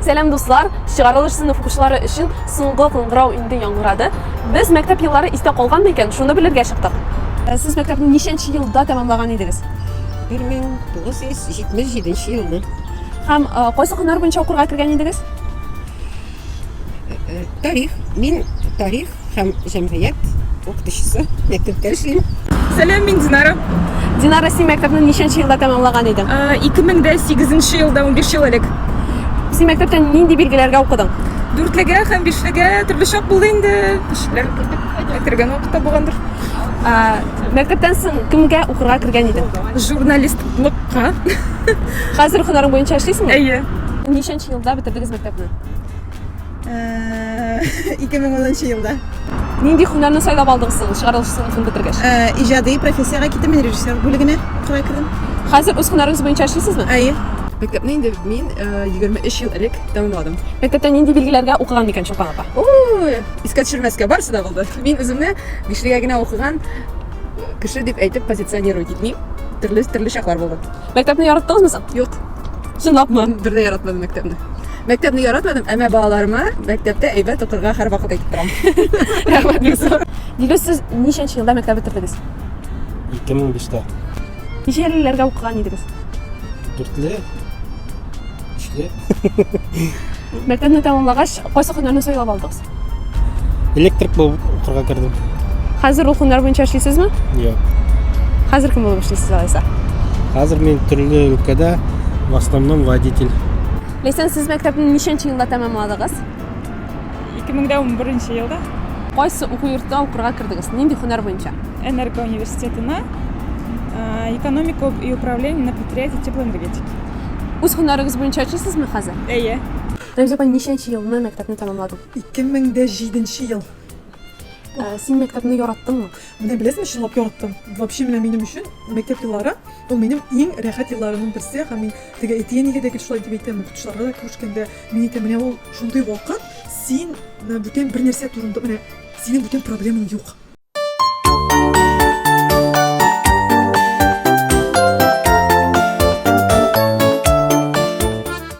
Сәлам дуслар! Чыгарылыш сыйныф укучылары өчен соңгы кыңгырау инде яңгырады. Без мәктәп еллары истә калган микән? Шуны белергә чыктык. Ә сез мәктәпне ничәнче елда тәмамлаган идегез? 1977 елны. Һәм э, кайсы көннәр буенча укырга кергән идегез? Э, э, тарих. Мин тарих һәм җәмгыять укытучысы, мәктәптә эшлим. Сәлам, мин Динара. Динара, син мәктәпне ничәнче елда тәмамлаган идең? 2008 э, елда 15 ел элек. Син мәктәптә нинди билгеләргә укыдың? Дүртлегә һәм бишлегә төрле чак булды инде. Кешеләр кергән вакытта булгандыр. Э, мәктәптән соң кемгә укырга кергән идең? Журналистлыкка. Хәзер һөнәрең буенча эшлисеңме? Әйе. Ничәнче елда бетердегез мәктәпне? 2010 елда. Нинди һөнәрне сайлап алдыгыз соң чыгарылыш сыйныфын бетергәч? Иҗади профессиягә киттем, мин режиссер бүлегенә кырай кердем. Хәзер үз һөнәрегез буенча эшлисезме? Әйе. Мәктәпне инде мин 23 ел элек тәмамладым. Мәктәптә нинди билгеләргә укыган микән Чулпан апа? Ой, искә төшермәскә барысы да булды. Мин үземне бишлегә генә укыган кеше дип әйтеп позиционировать итмим. Төрле төрле чаклар булды. Мәктәпне яраттыңызмы соң? Юк. Чынлапмы? Бер дә яратмадым мәктәпне. Мәктәпне яратмадым, әмма балаларыма мәктәптә әйбәт укырга һәрвакыт әйтеп торам. Рәхмәт бик зур. Дилүс, сез ничәнче елда мәктәп бетердегез? 2005-тә. Ничә елларга укыган идегез? Дүртле. Өчле. Мәктәпне тәмамлагач, кайсы һөнәрне сайлап алдыгыз? Электрик булып укырга кердем. Хәзер ул һөнәр буенча эшлисезме? Юк. Хәзер кем булып эшлисез алайса? Хәзер мин төрле өлкәдә в основном водитель. Ләйсән, сез мәктәпне ничәнче елда тәмамладыгыз? 2011 елда Кайсы уку йортына укырга кердегез? Нинди һөнәр буенча? Энерго университетына а, экономика и управление на предприятии теплоэнергетики. Үз һөнәрегез буенча эшлисезме хәзер? Әйе. Рәмзия апай, ничәнче елны мәктәпне тәмамладың? 2007 нче ел. Ә, син мәктәпне яраттыңмы? Менә беләсеңме, чынлап яраттым. Вообще менә минем өчен мәктәп еллары ул минем иң рәхәт елларымның берсе һәм мин теге әти-әнигә дә гел шулай дип әйтәм, укытучыларга да күрешкәндә мин әйтәм, менә ул шундый вакыт, син менә бүтән бер нәрсә турында менә синең бүтән проблемаң юк.